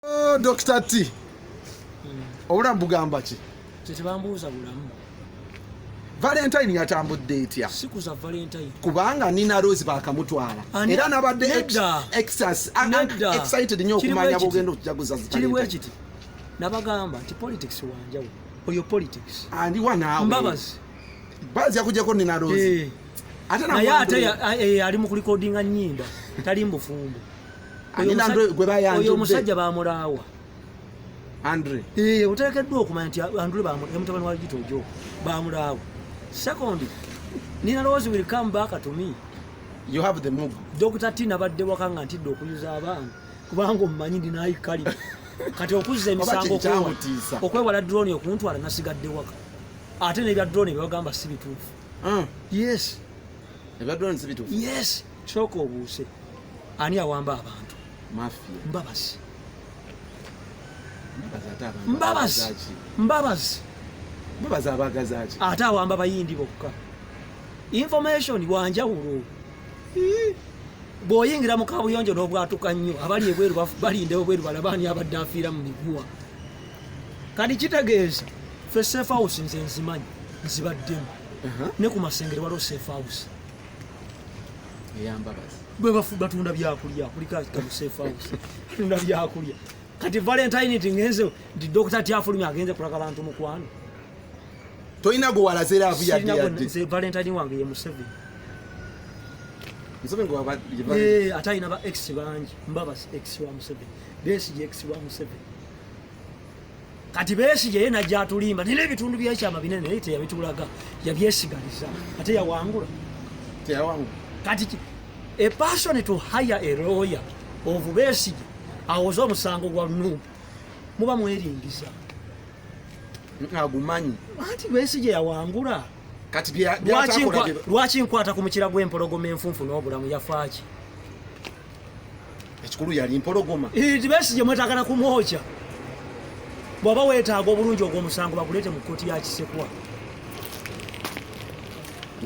Oh, Dr. T. Hmm. Obulamu bugamba ki? Tetibambuuza bulamu. Valentine yatambudde etya? Siku za Valentine. Kubanga Nina Rose bakamutwala. Era nabadde exas excited nyo okumanya bugendo kujaguza zita. Kiri wekiti. Nabagamba ti politics wanjawo. Oyo politics. Andi wana. Mbabazi. Bazi yakujako Nina Rose. Eh. Ate na yate eh, ali mu recording nyimba. Tali mbufumbo. oyo omusajja bamulaawa andre ee oteekeddwa okumanya nti andre bamutabani wa gito ojo bamulaawa second nina lowoozi will come back to me you have the move dr t nabadde waka nga ntidde okuyuza abaana kubanga omumanyi ndinayi kali kati okuzza emisango okwewala drone okuntwala nasigadde waka ate nebya drone byebagamba si bituufu ah. yes ebya drone si bituufu yes Kyoka obuuse ani awamba abantu mafia mbabazi mbabazi mbabazi mbabazi abagazaki ate awamba bayindi bokka information wanjawulo bwoyingira mu kabuyonjo n'obwatuka nnyo abali ebweru balindewo bweru balabaani abadde afiira mu miguwa kati kitegeeza fe safe house nze nzimanyi nzibaddemu ne ku masengere waliwo safe house bwe batunda byakulya kulika tunda byakulya kati valentine ti ngenze nti dokita tyafulumya agenze kulaga bantu mukwano tolina gwe walaze laavu yadde valentine wange ye museveni eh, ate alina ba ex bangi mbabas ex wa museveni besi ye ex wa museveni kati besigye ye najja atulimba naye ebitundu byekyama binene naye teyabitulaga yabyesigaliza ate yawangula kati a person to hire a lawyer of besigye awoza omusango gwa nubu muba mweringiza agumanyi anti besigye yawangula kati lwaki nkwata ku mukira gw'empologoma enfunfu n'obulamu yafaaki ekikulu yali mpologoma tibesi gye mwetagala kumwokya bwaba wetaaga obulungi ogw'omusango baguleete mu kkooti ya kisekwa